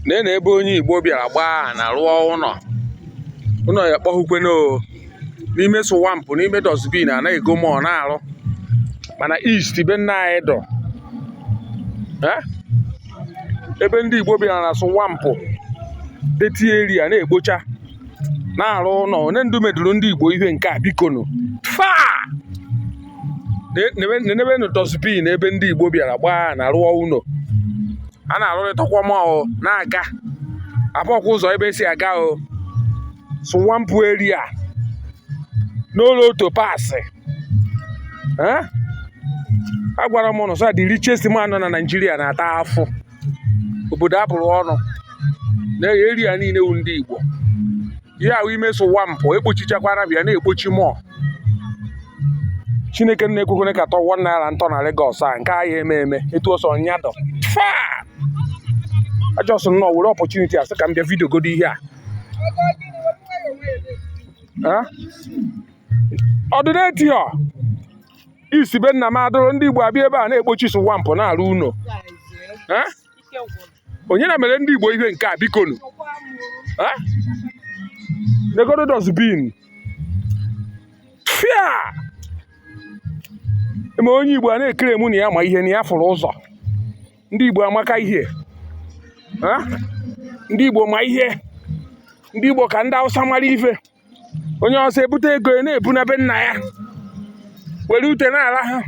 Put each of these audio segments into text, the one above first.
nene ebe onye igbo bịara gọọ ana rụọ ụnọ ụnọ ya kpọhụkweno n'ime swamp n'ime dustbin a na-ego mọ na-arụ mana east be nna anyị dọ ebe ndị igbo bịara na swamp dirty area na-ekpocha na-arụ ụnọ onye ndu meduru ndị Igbo ihe nke a bikonu fia nenebenu dustbin ebe ndị Igbo bịara gọọ ana rụọ ụnọ a na-arụrịtakwa m na-aga afụkwa ụzọ ebe e si aga o swamp area n'ụlọ otu pasị agwara m ụnụ sị the richest man nọ na Naịjirịa na-ata afụ obodo a bụrụ ọnụ na area niile wu ndị Igbo ihe ahụ ime swamp ekpochichakwara bịa na-ekpochi mọ chineke nna ekwekwana ka otu one naira m tọ na Lagos a nke ahịa eme eme etu ọ sọ ya dọ I just nnọọ were opportunity a sị ka m bịa video godo ihe a ọdụneti ọ east be nna m adụrụ ndị Igbo abịa ebe a na-ekpochi swamp na-arụ ụnọ onye na mere ndị Igbo ihe nke a bikonu negodo dustbin fia e mee onye Igbo a na-ekere mụ na ya ma ihe na ya fụrụ ụzọ ndị Igbo amaka ihe ndị Igbo ma ihe ndị Igbo ka ndị Hausa mara ife onye awụsa ebute ego ya na-ebuna be nna ya were ute n'ala ha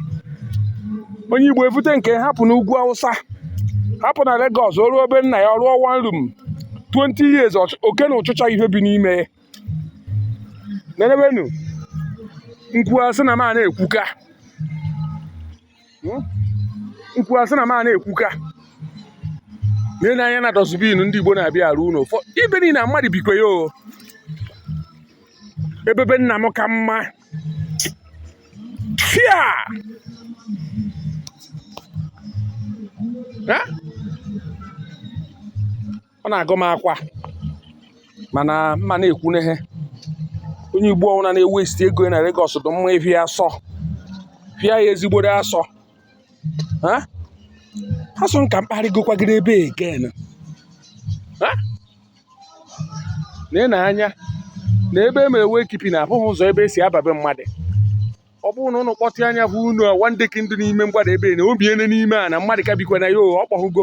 onye igbo ebute nke hapụ n'ugwu awụsa hapụ na Lagos o ruo be nna ya ọ rụọ one room 20 years oke na ụchịcha ihe bi n'ime nenebenu m kwuo a sị na m a na-ekwuka m kwuo a sị na m a na-ekwuka nene anya na dustbin ndị Igbo na-abịa arụ ụnọ ebe niile na mmadụ bikwa ya o ebe be nna m ka mma fia ọ na-agụ m akwa mana m ma na-ekwu ihe onye igbo ọwụna na-ewesti ego na Lagos dị mma ịfịa asọ fịa ya ezigbo asọ a sị ka m kparịgokwagịrị ebe again nee anya na ebe e mere wekipi na abụghị ụzọ ebe e si aba be mmadụ ọ bụrụ na ụnụ kpọtụ anya bụ unu awandeki ndụ n'ime mgbada ebe na obiene n'ime a na mmadụ ka bikwa na ya ọ kpọhụgo